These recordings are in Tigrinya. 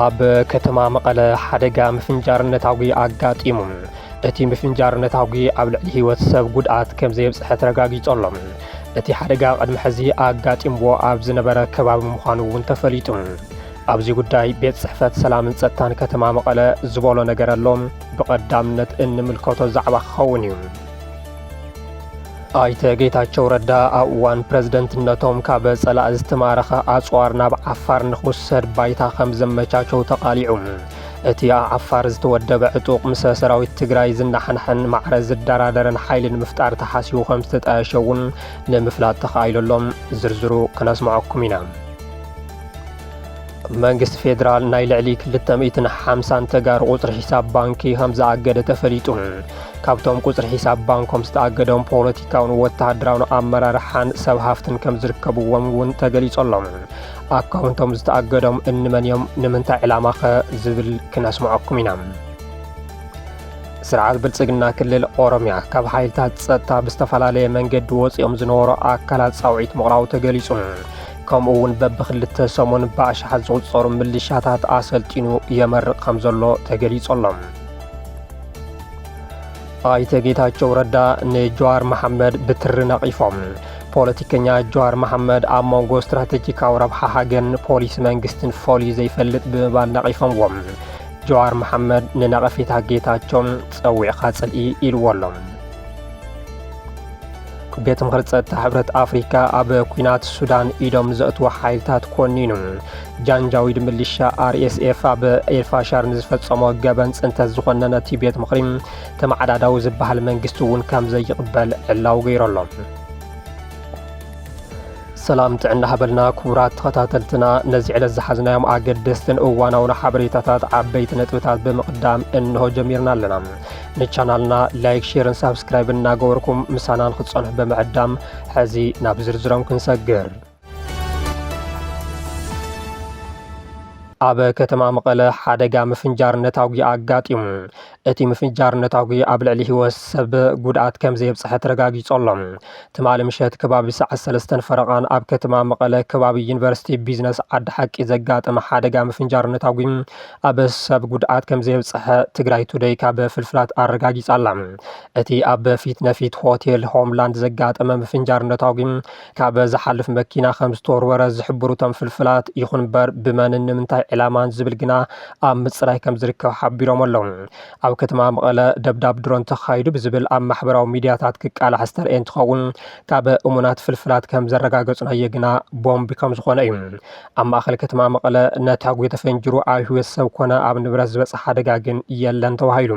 ኣብ ከተማ መቐለ ሓደጋ ምፍንጃር ነታጒ ኣጋጢሙ እቲ ምፍንጃር ነታጒ ኣብ ልዕሊ ህይወት ሰብ ጉድኣት ከም ዘየብፅሐ ተረጋጊጹ ኣሎ እቲ ሓደጋ ቅድሚ ሕዚ ኣጋጢምዎ ኣብ ዝነበረ ከባቢ ምዃኑ እውን ተፈሊጡ ኣብዚ ጉዳይ ቤት ጽሕፈት ሰላምን ጸጥታን ከተማ መቐለ ዝበሎ ነገር ኣሎ፣ ብቐዳምነት እንምልከቶ ዛዕባ ክኸውን እዩ። ኣይተ ጌታቸው ረዳ ኣብ እዋን ፕረዝደንትነቶም ካብ ጸላእ ዝተማረኸ ኣጽዋር ናብ ዓፋር ንክውሰድ ባይታ ከም ዘመቻቸው ተቓሊዑ። እቲ ኣብ ዓፋር ዝተወደበ ዕጡቕ ምስ ሰራዊት ትግራይ ዝናሓንሐን ማዕረ ዝደራደርን ሓይሊ ንምፍጣር ተሓሲቡ ከም ዝተጣየሸ እውን ንምፍላጥ ተኻኢሉ ኣሎ። ዝርዝሩ ክነስምዐኩም ኢና። መንግስቲ ፌዴራል ናይ ልዕሊ 250 ተጋሩ ቁፅሪ ሒሳብ ባንኪ ከም ዝኣገደ ተፈሊጡ ካብቶም ቁፅሪ ሒሳብ ባንኮም ዝተኣገዶም ፖለቲካውን ወተሃደራውን ኣመራርሓን ሰብ ሃፍትን ከም ዝርከብዎም እውን ተገሊጸሎም ኣካውንቶም ዝተኣገዶም እንመን እዮም ንምንታይ ዕላማ ኸ ዝብል ክነስምዐኩም ኢና ስርዓት ብልፅግና ክልል ኦሮምያ ካብ ሓይልታት ፀጥታ ብዝተፈላለየ መንገዲ ወፂኦም ዝነበሩ ኣካላት ፃውዒት ምቕራቡ ተገሊጹ ከምኡ'ውን በብክልተ ሰሙን ብኣሽሓት ዝቑጸሩ ምልሻታት ኣሰልጢኑ የመርቕ ከም ዘሎ ተገሊጹ ኣሎ። ኣይተ ጌታቸው ረዳ ንጀዋር መሓመድ ብትሪ ነቒፎም። ፖለቲከኛ ጀዋር መሓመድ ኣብ መንጎ ስትራቴጂካዊ ረብሓ ሃገርን ፖሊሲ መንግስትን ፈልዩ ዘይፈልጥ ብምባል ነቒፎምዎም። ጀዋር መሓመድ ንነቐፌታ ጌታቸው ጸዊዕካ ጽልኢ ኢልዎ ኣሎ። ቤት ምኽሪ ጸጥታ ሕብረት ኣፍሪካ ኣብ ኩናት ሱዳን ኢዶም ዘእትዎ ሓይልታት ኮኒኑ ጃንጃዊድ ምልሻ ኣርኤስኤፍ ኣብ ኤልፋሻር ንዝፈጸሞ ገበን ጽንተት ዝኾነ ነቲ ቤት ምኽሪ ተመዓዳዳዊ ዝበሃል መንግስቲ እውን ከም ዘይቕበል ዕላው ገይሩ ኣሎ ሰላም ጥዕና ሃበልና ክቡራት ተኸታተልትና ነዚ ዕለት ዝሓዝናዮም ኣገደስትን እዋናውን ሓበሬታታት ዓበይቲ ነጥብታት ብምቕዳም እንሆ ጀሚርና ኣለና ንቻናልና ላይክ ሼርን ሳብስክራይብን እናገበርኩም ምሳና ንክትጸንሑ ብምዕዳም ሕዚ ናብ ዝርዝሮም ክንሰግር ኣብ ከተማ መቐለ ሓደጋ ምፍንጃር ነታጒ ኣጋጢሙ እቲ ምፍንጃር ነታጒ ኣብ ልዕሊ ህይወት ሰብ ጉድኣት ከም ዘየብፅሐ ተረጋጊፆ ኣሎ ትማሊ ምሸት ከባቢ ሰዓት ሰለስተን ፈረቓን ኣብ ከተማ መቐለ ከባቢ ዩኒቨርሲቲ ቢዝነስ ዓዲ ሓቂ ዘጋጠመ ሓደጋ ምፍንጃር ነታጒ ኣብ ሰብ ጉድኣት ከምዘየብፀሐ ትግራይ ቱደይ ካብ ፍልፍላት ኣረጋጊፃ ኣላ። እቲ ኣብ ፊት ነፊት ሆቴል ሆምላንድ ዘጋጠመ ምፍንጃር ነታጒ ካብ ዝሓልፍ መኪና ከምዝተወርወረ ዝሕብሩ እቶም ፍልፍላት፣ ይኹን እምበር ብመንን ንምንታይ ዕላማን ዝብል ግና ኣብ ምፅራይ ከምዝርከብ ሓቢሮም ኣለው። ኣብ ከተማ መቐለ ደብዳብ ድሮን ተኻይዱ ብዝብል ኣብ ማሕበራዊ ሚድያታት ክቃላሕ ዝተርኣየ እንትኸውን፣ ካብ እሙናት ፍልፍላት ከምዘረጋገፅናዮ ግና ቦምብ ከምዝኾነ እዩ። ኣብ ማእኸል ከተማ መቐለ ነታጒ ተፈንጂሩ ኣብ ህይወት ሰብ ኮነ ኣብ ንብረት ዝበፅሐ ሓደጋ ግን የለን ተባሂሉ።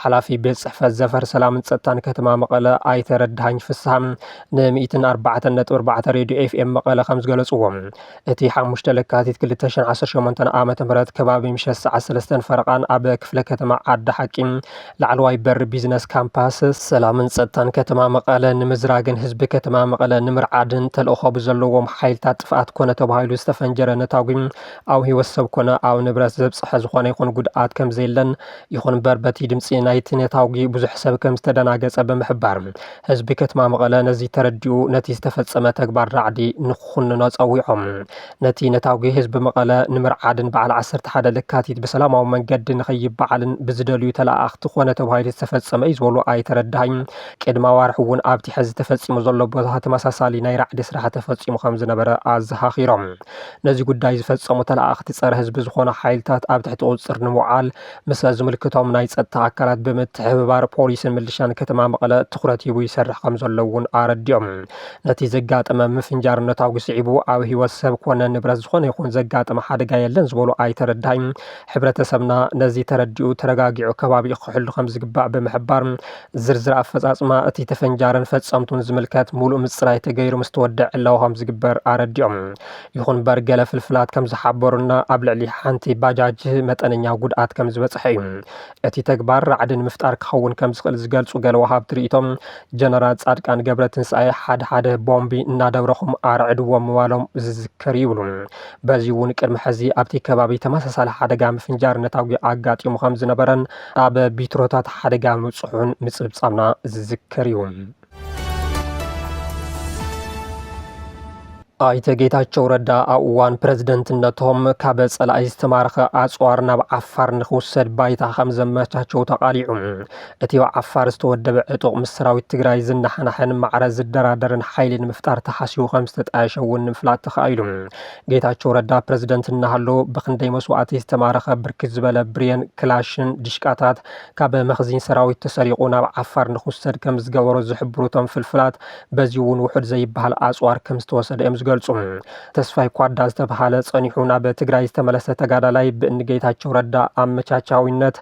ሓላፊ ቤት ፅሕፈት ዘፈር ሰላምን ፀጥታን ከተማ መቐለ ኣይተ ረዳሃኝ ፍስሃ ንሚእትን ኣርባዕተን ነጥቢ ኣርባዕተ ሬድዮ ኤፍኤም መቐለ ከምዝገለፅዎ እቲ ሓሙሽተ ለካቲት ክልተ ሽሕን ዓሰርተ ሸሞንተን ዓመተ ምህረት ከባቢ ምሸት ሰዓት ሰለስተን ፈረቓን ኣብ ክፍለ ከተማ ዓዲ ሓቂ ላዕለዋይ በሪ ቢዝነስ ካምፓስ ሰላምን ፀጥታን ከተማ መቐለ ንምዝራግን ህዝቢ ከተማ መቐለ ንምርዓድን ተልእኾ ብዘለዎም ሓይልታት ጥፍኣት ኮነ ተባሂሉ ዝተፈንጀረ ነታጒ ኣብ ህይወት ሰብ ኮነ ኣብ ንብረት ዘብፅሐ ዝኾነ ይኹን ጉድኣት ከምዘየለን ይኹን እምበር በቲ ድምፂ ናይቲ ነታጒ ብዙሕ ሰብ ከምዝተደናገፀ ብምሕባር ህዝቢ ከተማ መቐለ ነዚ ተረዲኡ ነቲ ዝተፈፀመ ተግባር ራዕዲ ንክኹንኖ ፀዊዖም። ነቲ ነታጒ ህዝቢ መቐለ ንምርዓድን በዓል ዓሰርተ ሓደ ለካቲት ብሰላማዊ መንገዲ ንከይበዓልን ብዝደልዩ ተለኣኣኽቲ ኮነ ተባሂሉ ዝተፈፀመ እዩ ዝበሉ ኣይተ ረዳሃኝ፣ ቅድሚ ኣዋርሕ እውን ኣብቲ ሕዚ ተፈፂሙ ዘሎ ቦታ ተመሳሳሊ ናይ ራዕዲ ስራሕ ተፈፂሙ ከምዝነበረ ኣዘኻኺሮም። ነዚ ጉዳይ ዝፈፀሙ ተለኣኣኽቲ ፀረ ህዝቢ ዝኾኑ ሓይልታት ኣብ ትሕቲ ቁፅፅር ንምውዓል ምስ ዝምልከቶም ናይ ፀጥታ ኣካላት ብምትሕብባር ፖሊስን ምልሻን ከተማ መቐለ ትኹረት ሂቡ ይሰርሕ ከም ዘሎ እውን ኣረዲኦም። ነቲ ዘጋጠመ ምፍንጃር ነታጒ ስዒቡ ኣብ ህይወት ሰብ ኮነ ንብረት ዝኾነ ይኹን ዘጋጠመ ሓደጋ የለን ዝበሉ ኣይተ ረዳኢ፣ ሕብረተሰብና ነዚ ተረዲኡ ተረጋጊዑ ከባቢኡ ክሕሉ ከም ዝግባእ ብምሕባር፣ ዝርዝር ኣፈፃፅማ እቲ ተፈንጃርን ፈፀምቱን ዝምልከት ሙሉእ ምፅራይ ተገይሩ ምስተወደኣ ዕላዊ ከም ዝግበር ኣረዲኦም። ይኹን እምበር ገለ ፍልፍላት ከም ዝሓበሩና ኣብ ልዕሊ ሓንቲ ባጃጅ መጠነኛ ጉድኣት ከም ዝበፅሐ እዩ። እቲ ተግባር ራዕዲ ንምፍጣር ክኸውን ከም ዝኽእል ዝገልፁ ገለ ወሃብቲ ሪኢቶ ጀነራል ፃድቃን ገብረትንሳኤ ሓደ ሓደ ቦምቢ እናደብረኹም ኣርዕድዎም ምባሎም ዝዝከር እዩ ይብሉ። በዚ እውን ቅድሚ ሕዚ ኣብቲ ከባቢ ተመሳሳሊ ሓደጋ ምፍንጃር ነታጒ ኣጋጢሙ ከም ዝነበረን ኣብ ቢትሮታት ሓደጋ ምብፅሑን ምፅብፃብና ዝዝከር እዩ። ኣይተ ጌታቸው ረዳ ኣብ እዋን ፕረዝደንትነቶም ካብ ጸላኢ ዝተማረኸ ኣጽዋር ናብ ዓፋር ንክውሰድ ባይታ ከም ዘመቻቸው ተቓሊዑ እቲ ኣብ ዓፋር ዝተወደበ ዕጡቕ ምስ ሰራዊት ትግራይ ዝነሓናሕን ማዕረ ዝደራደርን ሓይሊ ንምፍጣር ተሓሲቡ ከም ዝተጣየሸ እውን ንምፍላጥ ተኻኢሉ። ጌታቸው ረዳ ፕረዝደንት እናሃለዉ ብክንደይ መስዋእቲ ዝተማረኸ ብርክት ዝበለ ብሬን፣ ክላሽን፣ ዲሽቃታት ካብ መኽዚን ሰራዊት ተሰሪቑ ናብ ዓፋር ንክውሰድ ከምዝገበሮ ዝሕብሩ እቶም ፍልፍላት፣ በዚ እውን ውሑድ ዘይበሃል ኣፅዋር ከምዝተወሰደ እዮም ዝገልፁ። ተስፋይ ኳዳ ዝተብሃለ ፀኒሑ ናብ ትግራይ ዝተመለሰ ተጋዳላይ ብእኒ ጌታቸው ረዳ ኣመቻቻዊነት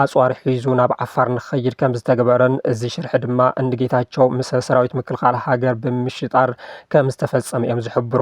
ኣፅዋር ሒዙ ናብ ዓፋር ንክኸይድ ከምዝተገበረን እዚ ሽርሒ ድማ እንጌታቸው ምስ ሰራዊት ምክልኻል ሃገር ብምምሽጣር ከምዝተፈፀመ እዮም ዝሕብሩ።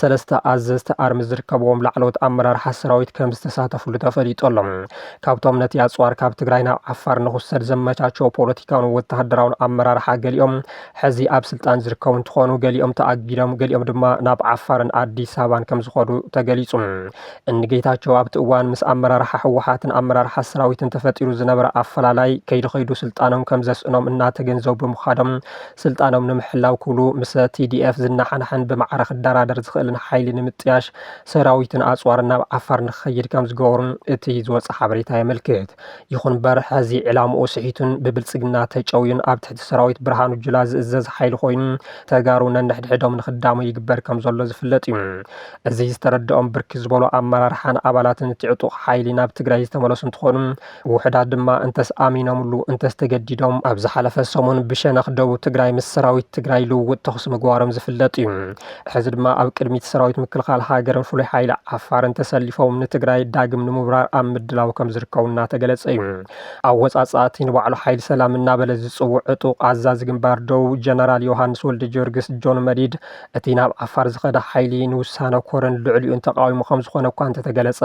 ሰለስተ ኣዘዝቲ ኣርሚ ዝርከብዎም ላዕለዎት ኣመራርሓ ሰራዊት ከም ዝተሳተፍሉ ተፈሊጡ ኣሎ። ካብቶም ነቲ ኣጽዋር ካብ ትግራይ ናብ ዓፋር ንኽውሰድ ዘመቻቸው ፖለቲካውን ወተሃደራውን ኣመራርሓ ገሊኦም ሕዚ ኣብ ስልጣን ዝርከቡ እንትኾኑ ገሊኦም ተኣጊዶም ገሊኦም ድማ ናብ ዓፋርን ኣዲስ ኣበባን ከም ዝኸዱ ተገሊጹ። እኒ ጌታቸው ኣብቲ እዋን ምስ ኣመራርሓ ህወሓትን ኣመራርሓ ሰራዊትን ተፈጢሩ ዝነበረ ኣፈላላይ ከይዱ ከይዱ ስልጣኖም ከም ዘስእኖም እናተገንዘቡ ብምኻዶም ስልጣኖም ንምሕላው ክብሉ ምሰ ቲዲኤፍ ዝነሓናሕን ብማዕረ ክደራደር ዝኽእልን ሓይሊ ንምጥያሽ ሰራዊትን ኣፅዋርን ናብ ዓፋር ንክኸይድ ከምዝገበሩ እቲ ዝወፀ ሓበሬታ የመልክት። ይኹን ምበር ሐዚ ዒላምኡ ስሒቱን ብብልፅግና ተጨውዩን ኣብ ትሕቲ ሰራዊት ብርሃኑ ጁላ ዝእዘዝ ሓይሊ ኮይኑ ተጋሩ ነንሕድሕዶም ንክዳሙ ይግበር ከምዘሎ ዝፍለጥ ዩ። እዚ ዝተረደኦም ብርክት ዝበሉ ኣመራርሓን ኣባላትን እቲ ዕጡቕ ሓይሊ ናብ ትግራይ ዝተመለሱ እንትኾኑ ውሑዳት ድማ እንተስ ኣሚኖምሉ እንተስ ተገዲዶም ኣብ ዝሓለፈ ሰሙን ብሸነኽ ደቡብ ትግራይ ምስ ሰራዊት ትግራይ ልውውጥ ተኹሲ ምግባሮም ዝፍለጥ እዩ። ሕዚ ድማ ኣብ ቅድሚት ሰራዊት ምክልኻል ሃገርን ፍሉይ ሓይሊ ዓፋርን ተሰሊፎም ንትግራይ ዳግም ንምውራር ኣብ ምድላው ከምዝርከቡ እናተገለፀ እዩ። ኣወፃፅኣ እቲ ንባዕሉ ሓይሊ ሰላም እናበለ ዝፅውዕ ዕጡቕ ኣዛዚ ግንባር ደቡብ ጀነራል ዮሃንስ ወልደጀወርግስ፣ ጆን መዲድ፣ እቲ ናብ ዓፋር ዝኸደ ሓይሊ ንውሳነ ኮረን ልዕሊኡን ተቓዊሙ ከምዝኾነ እኳ እንተተገለፀ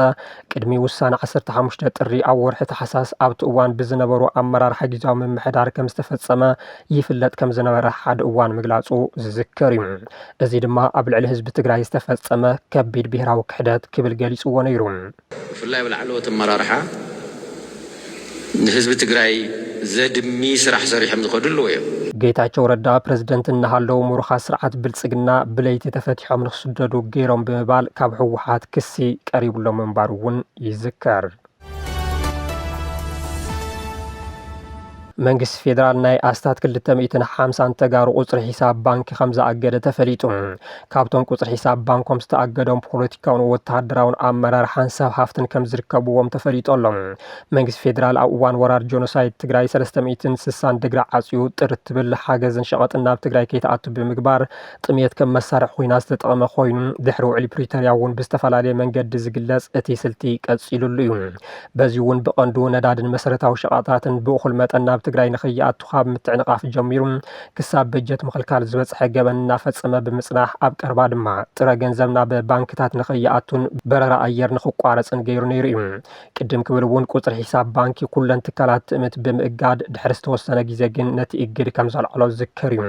ቅድሚ ውሳነ ዓሰርተ ሓሙሽተ ጥሪ ኣብ ወርሒ ታሕሳስ ኣብቲ እዋን ብዝነበሩ ኣመራርሓ ጊዜያዊ ምምሕዳር ከም ዝተፈፀመ ይፍለጥ ከም ዝነበረ ሓደ እዋን ምግላፁ ዝዝከር እዩ። እዚ ድማ ኣብ ልዕሊ ህዝቢ ትግራይ ዝተፈፀመ ከቢድ ብሄራዊ ክሕደት ክብል ገሊፅዎ ነይሩ። ብፍላይ ኣብ ላዕለዎት ኣመራርሓ ንህዝቢ ትግራይ ዘድሚ ስራሕ ሰሪሖም ዝኸዱ ኣለዉ እዮም። ጌታቸው ረዳ ፕረዚደንት እናሃለዉ ምሩኻት ስርዓት ብልፅግና ብለይቲ ተፈቲሖም ንክስደዱ ገይሮም ብምባል ካብ ህወሓት ክሲ ቀሪብሎም ምንባሩ እውን ይዝከር። መንግስቲ ፌደራል ናይ ኣስታት ክልተ ሚእትን ሓምሳን ተጋሩ ቁፅሪ ሒሳብ ባንኪ ከምዝኣገደ ተፈሊጡ። ካብቶም ቁፅሪ ሒሳብ ባንኮም ዝተኣገዶም ፖለቲካውን ወተሃደራውን ኣመራርሓን ሰብ ሃፍትን ከምዝርከብዎም ተፈሊጡ ኣሎ። መንግስቲ ፌደራል ኣብ እዋን ወራር ጆኖሳይድ ትግራይ ሰለስተ ሚእትን ስሳን ደግሪ ዓፅዩ ጥር እትብል ሓገዝን ሸቐጥን ናብ ትግራይ ከይትኣቱ ብምግባር ጥምየት ከም መሳርሒ ኹናት ዝተጠቐመ ኾይኑ ድሕሪ ውዕሊ ፕሪቶርያ እውን ብዝተፈላለየ መንገዲ ዝግለፅ እቲ ስልቲ ቀፂሉሉ እዩ። በዚ እውን ብቐንዱ ነዳድን መሰረታዊ ሸቐጣትን ብእኹል መጠን ናብ ትግራይ ንከይኣቱ ካብ ምትዕንቓፍ ጀሚሩ ክሳብ በጀት ምኽልካል ዝበፅሐ ገበን እናፈፀመ ብምፅናሕ ኣብ ቀረባ ድማ ጥረ ገንዘብ ናብ ባንክታት ንከይኣቱን በረራ ኣየር ንክቋረፅን ገይሩ ነይሩ እዩ። ቅድም ክብል እውን ቁፅሪ ሒሳብ ባንኪ ኩለን ትካላት ትእምት ብምእጋድ ድሕሪ ዝተወሰነ ግዜ ግን ነቲ እግድ ከም ዘልዓሎ ዝዝከር እዩ።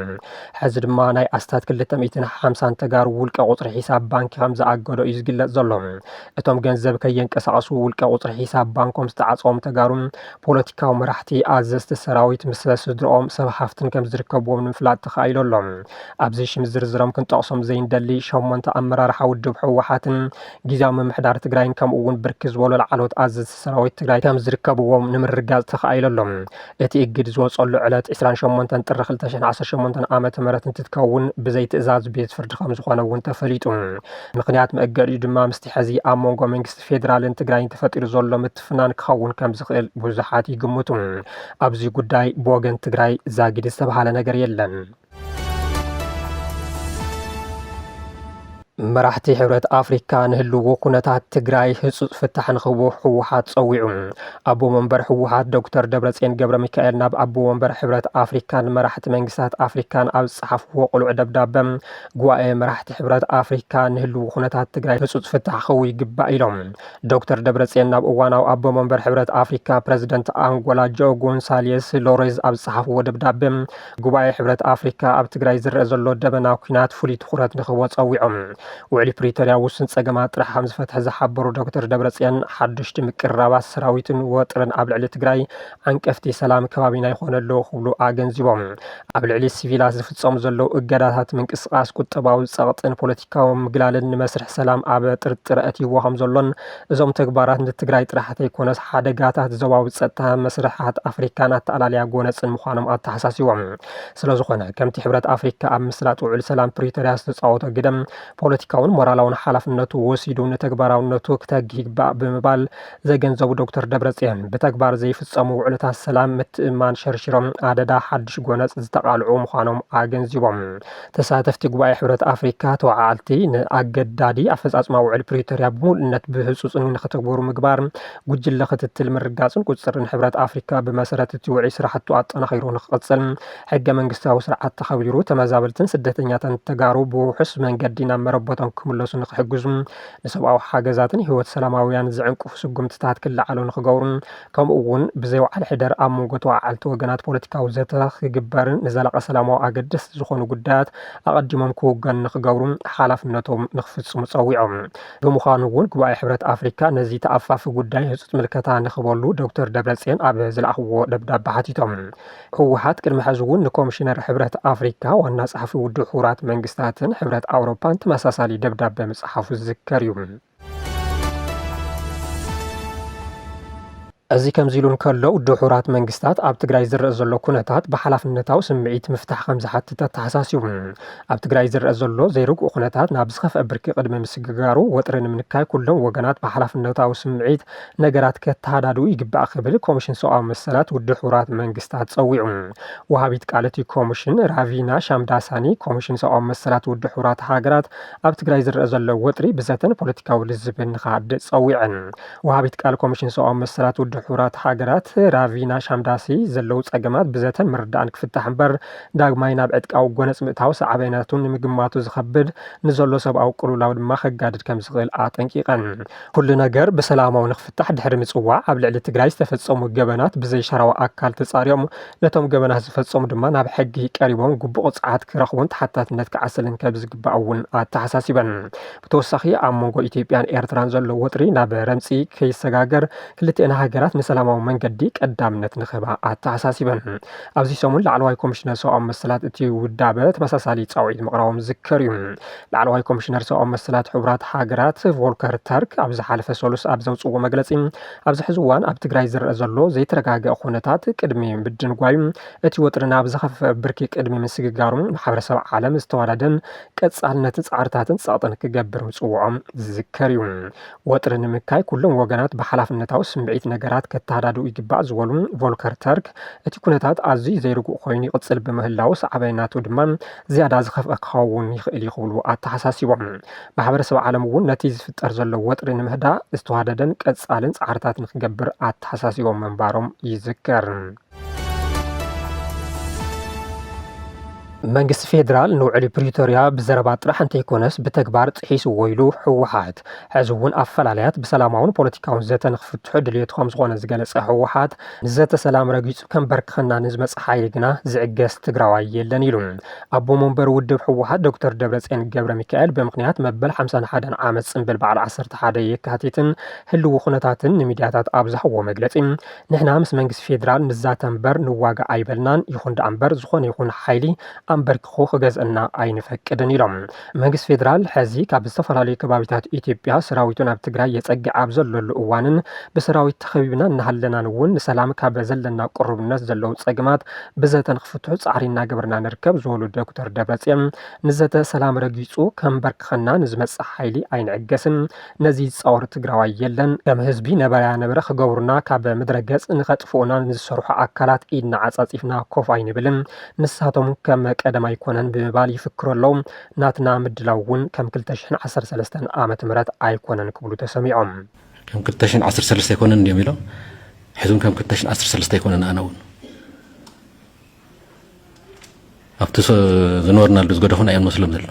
ሕዚ ድማ ናይ ኣስታት ክልተ ሚእትን ሓምሳን ተጋሩ ውልቀ ቁፅሪ ሒሳብ ባንኪ ከም ዝኣገዶ እዩ ዝግለፅ ዘሎ። እቶም ገንዘብ ከየንቀሳቐሱ ውልቀ ቁፅሪ ሒሳብ ባንኮም ዝተዓፀዎም ተጋሩ ፖለቲካዊ መራሕቲ፣ ኣዘዝቲ ሰራዊት፣ ምስ ስድርኦም፣ ሰብ ሃፍትን ከም ዝርከብዎም ንምፍላጥ ተኻኢሉ ኣሎ። ኣብዚ ሽም ዝርዝሮም ክንጠቕሶም ዘይንደሊ ሸሞንተ ኣመራርሓ ውድብ ህወሓትን ጊዚያዊ ምምሕዳር ትግራይን ከምኡ እውን ብርክት ዝበሉ ላዕለዎት ኣዘዝቲ ሰራዊት ትግራይ ከም ዝርከብዎም ንምርግጋፅ ተኻኢሉ ኣሎ። እቲ እግድ ዝወፀሉ ዕለት ዕስራን ሸሞንተን ጥሪ ክልተ ሽሕን ዓሰርተ ሸሞንተን ዓመተ ምህረት እንትትከውን ብዘይ ትእዛዝ ቤት ፍርዲ ከም ዝኾነ እውን ተፈሊጡ። ምኽንያት መእገዲኡ ድማ ምስቲ ሕዚ ኣብ መንጎ መንግስቲ ፌዴራልን ትግራይን ተፈጢሩ ዘሎ ምትፍናን ክኸውን ከም ዝኽእል ብዙሓት ይግምቱ። ኣብዚ ጉዳይ ብወገን ትግራይ ዛጊድ ዝተብሃለ ነገር የለን። መራሕቲ ሕብረት ኣፍሪካ ንህልዎ ኩነታት ትግራይ ህፁፅ ፍታሕ ንክህቦ ህወሓት ፀዊዑ ኣቦ መንበር ህወሓት ዶክተር ደብረፅዮን ገብረ ሚካኤል ናብ ኣቦ መንበር ሕብረት ኣፍሪካን መራሕቲ መንግስታት ኣፍሪካን ኣብ ዝፀሓፍዎ ቅሉዕ ደብዳበ ጉባኤ መራሕቲ ሕብረት ኣፍሪካ ንህልዎ ኩነታት ትግራይ ህፁፅ ፍታሕ ክህቡ ይግባእ ኢሎም ዶክተር ደብረፅዮን ናብ እዋናዊ ኣቦ መንበር ሕብረት ኣፍሪካ ፕረዚደንት ኣንጎላ ጆ ጎንሳሌስ ሎሬዝ ኣብ ዝፀሓፍዎ ደብዳበ ጉባኤ ሕብረት ኣፍሪካ ኣብ ትግራይ ዝረአ ዘሎ ደበና ኩናት ፍሉይ ትኹረት ንክህቦ ፀዊዖም። ውዕሊ ፕሪቶርያ ውሱን ፀገማት ጥራሕ ከምዝፈትሐ ዝሓበሩ ዶክተር ደብረፅዮን ሓዱሽቲ ምቅርራባት ሰራዊትን ወጥርን ኣብ ልዕሊ ትግራይ ዓንቀፍቲ ሰላም ከባቢና ይኾነ ኣሎ ክብሉ ኣገንዚቦም። ኣብ ልዕሊ ሲቪላት ዝፍፀሙ ዘለው እገዳታት ምንቅስቓስ፣ ቁጠባዊ ፀቕጥን ፖለቲካዊ ምግላልን ንመስርሕ ሰላም ኣብ ጥርጥር ኣእትይዎ ከምዘሎን እዞም ተግባራት ንትግራይ ጥራሕ ተይኮነስ ሓደጋታት ዞባዊ ፀጥታ፣ መስርሓት ኣፍሪካን ኣተኣላልያ ጎነፅን ምዃኖም ኣተሓሳሲቦም። ስለዝኾነ ከምቲ ሕብረት ኣፍሪካ ኣብ ምስላጥ ውዕል ሰላም ፕሪቶርያ ዝተፃወቶ ግደ ፖለቲካውን ሞራላውን ሓላፍነቱ ወሲዱ ንተግባራውነቱ ክተግህ ይግባእ ብምባል ዘገንዘቡ ዶክተር ደብረፅዮን ብተግባር ዘይፍፀሙ ውዕልታት ሰላም ምትእምማን ሸርሺሮም ኣደዳ ሓዱሽ ጎነፅ ዝተቓልዑ ምዃኖም ኣገንዚቦም። ተሳተፍቲ ጉባኤ ሕብረት ኣፍሪካ ተወዓዓልቲ ንኣገዳዲ ኣፈፃፅማ ውዕል ፕሪቶሪያ ብምሉእነት ብህፁፅን ንክተግበሩ ምግባር፣ ጉጅለ ክትትል ምርጋፅን ቁፅፅርን ሕብረት ኣፍሪካ ብመሰረት እቲ ውዒ ስራሕቱ ኣጠናኺሩ ንክቕፅል ሕገ መንግስታዊ ስርዓት ተኸቢሩ ተመዛበልትን ስደተኛታትን ተጋሩ ብውሑስ መንገዲ ናብ መረበቶም ክምለሱ ንክሕግዙ ንሰብኣዊ ሓገዛትን ህይወት ሰላማዊያን ዝዕንቅፉ ስጉምትታት ክለዓሉ ንክገብሩን ከምኡ'ውን ብዘይ ውዓል ሕደር ኣብ መንጎ ተወዓዓልቲ ወገናት ፖለቲካዊ ዘተ ክግበርን ንዘላቒ ሰላማዊ ኣገደስቲ ዝኾኑ ጉዳያት ኣቐዲሞም ክውገኑ ንክገብሩ ሓላፍነቶም ንክፍፅሙ ፀዊዖም። ብምዃኑ እውን ጉባኤ ሕብረት ኣፍሪካ ነዚ ተኣፋፊ ጉዳይ ህፁፅ ምልከታ ንክህበሉ ዶክተር ደብረፅዮን ኣብ ዝለኣኽዎ ደብዳበ ሓቲቶም። ህወሓት ቅድሚ ሕዚ እውን ንኮሚሽነር ሕብረት ኣፍሪካ፣ ዋና ፀሓፊ ውድብ ሕቡራት መንግስታትን ሕብረት ኣውሮፓን ተመሳሳሊ ደብዳበ ምፅሓፉ ዝዝከር እዩ። እዚ ከምዚ ኢሉ እንከሎ ድሑራት መንግስታት ኣብ ትግራይ ዝረአ ዘሎ ኩነታት ብሓላፍነታዊ ስምዒት ምፍታሕ ከም ዝሓትት ኣተሓሳሲቡ ኣብ ትግራይ ዝረአ ዘሎ ዘይርግኡ ኩነታት ናብ ዝኸፍአ ብርኪ ቅድሚ ምስግጋሩ ወጥሪ ንምንካይ ኩሎም ወገናት ብሓላፍነታዊ ስምዒት ነገራት ከተሃዳድኡ ይግባእ ክብል ኮሚሽን ሰብኣዊ መሰላት ድሑራት መንግስታት ጸዊዑ። ወሃቢት ቃል እቲ ኮሚሽን ራቪና ሻምዳሳኒ ኮሚሽን ሰብኣዊ መሰላት ድሑራት ሃገራት ኣብ ትግራይ ዝረኣ ዘሎ ወጥሪ ብዘተን ፖለቲካዊ ልዝብን ንክሃድእ ፀዊዐን። ወሃቢት ቃል ኮሚሽን ሰብኣዊ መሰላት ውድብ ሕቡራት ሃገራት ራቪና ሻምዳሲ ዘለው ፀገማት ብዘተን ምርዳእን ክፍታሕ እምበር ዳግማይ ናብ ዕጥቃዊ ጎነፅ ምእታው ሳዕቤናቱ ንምግማቱ ዝኸብድ ንዘሎ ሰብኣዊ ቅልውላው ድማ ከጋድድ ከምዝኽእል ኣጠንቂቐን። ኩሉ ነገር ብሰላማዊ ንክፍታሕ ድሕሪ ምፅዋዕ ኣብ ልዕሊ ትግራይ ዝተፈፀሙ ገበናት ብዘይሻራዊ ኣካል ተፃሪዮም ነቶም ገበናት ዝፈፀሙ ድማ ናብ ሕጊ ቀሪቦም ግቡእ ቅፅዓት ክረኽቡን ተሓታትነት ክዓሰልን ከብዝግባእ እውን ኣተሓሳሲበን። ብተወሳኺ ኣብ መንጎ ኢትዮጵያን ኤርትራን ዘሎ ወጥሪ ናብ ረምፂ ከይሰጋገር ክልቲኤን ሃገራት ንሰላማዊ መንገዲ ቀዳምነት ንክህባ ኣተሓሳሲበን። ኣብዚ ሰሙን ላዕለዋይ ኮሚሽነር ሰብኣዊ መሰላት እቲ ውዳበ ተመሳሳሊ ፃውዒት ምቕራቦም ዝዝከር እዩ። ላዕለዋይ ኮሚሽነር ሰብኣዊ መሰላት ሕቡራት ሃገራት ቮልከር ተርክ ኣብ ዝሓለፈ ሰሉስ ኣብ ዘውፅዎ መግለፂ ኣብዚ ሕዚ እዋን ኣብ ትግራይ ዝረአ ዘሎ ዘይተረጋገ ኩነታት ቅድሚ ምድንጓዩ እቲ ወጥሪ ናብ ዝኸፈፈ ብርኪ ቅድሚ ምስግጋሩ ማሕበረሰብ ዓለም ዝተዋዳደን ቀፃልነት ፃዕርታትን ፀቕጥን ክገብር ምፅውዖም ዝዝከር እዩ። ወጥሪ ንምካይ ኩሎም ወገናት ብሓላፍነታዊ ስምዒት ነገራት ከተሃዳድኡ ይግባእ ዝበሉ ቮልከር ተርክ እቲ ኩነታት ኣዝዩ ዘይርጉእ ኮይኑ ይቕፅል ብምህላው ሳዕባይናቱ ድማ ዝያዳ ዝኸፍኣ ክኸውን ይኽእል እዩ ክብሉ ኣተሓሳሲቦም። ማሕበረሰብ ዓለም እውን ነቲ ዝፍጠር ዘሎ ወጥሪ ንምህዳእ ዝተዋደደን ቀፃልን ፃዕርታት ንክገብር ኣተሓሳሲቦም ምንባሮም ይዝከር። መንግስቲ ፌዴራል ንውዕሊ ፕሪቶርያ ብዘረባ ጥራሕ እንተይኮነስ ብተግባር ጥሒስዎ ኢሉ ህወሓት ሕዚ እውን ኣፈላላያት ብሰላማውን ፖለቲካውን ዘተ ንክፍትሑ ድልየቱ ከምዝኾነ ዝገለፀ ህወሓት ንዘተ ሰላም ረጊፁ ከምበርክኸና ንዝመፀ ሓይሊ ግና ዝዕገስ ትግራዋይ የለን ኢሉ። ኣቦ መንበር ውድብ ህወሓት ዶክተር ደብረፅዮን ገብረ ሚካኤል ብምክንያት መበል ሓምሳን ሓደን ዓመት ፅምብል በዓል ዓሰርተ ሓደ የካቲትን ህልዊ ኩነታትን ንሚድያታት ኣብ ዝሃብዎ መግለፂ ንሕና ምስ መንግስቲ ፌዴራል ንዛተ እምበር ንዋጋእ ኣይበልናን፣ ይኹን ደኣ እምበር ዝኾነ ይኹን ሓይሊ ኣምበርኪኹ ክገዝእና ኣይንፈቅድን ኢሎም። መንግስቲ ፌደራል ሐዚ ካብ ዝተፈላለዩ ከባቢታት ኢትዮጵያ ሰራዊቱ ናብ ትግራይ የፀግዕ ኣብ ዘለሉ እዋንን ብሰራዊት ተኸቢብና እናሃለናን እውን ንሰላም ካብ ዘለና ቅሩብነት ዘለው ፀገማት ብዘተ ንክፍትሑ ፃዕሪ እናገበርና ንርከብ ዝበሉ ዶክተር ደብረፅዮን ንዘተ ሰላም ረጊፁ ከምበርክኸና ንዝመፅእ ሓይሊ ኣይንዕገስን ነዚ ዝጻወር ትግራዋይ የለን። ከም ህዝቢ ነበረያ ነበረ ክገብሩና ካብ ምድረ ገጽ ንከጥፍኡና ንዝሰርሑ ኣካላት ኢድና ዓጻጺፍና ኮፍ ኣይንብልን። ንሳቶም ከም ቀደም ኣይኮነን ብምባል ይፍክሩ ኣለው። ናትና ምድላው እውን ከም ክልተ ሽሕን ዓሰርተ ሰለስተን ዓመተ ምህረት ኣይኮነን ክብሉ ተሰሚዖም። ከም ክልተ ሽሕን ዓሰርተ ሰለስተን ኣይኮነን እንድዮም ኢሎም ሕዚ እውን ከም ክልተ ሽሕን ዓሰርተ ሰለስተን ኣይኮነን ኣነ እውን። ኣብቲ ዝነበርናሉ ዝገደፉና እዮም መስሎም ዘሎ።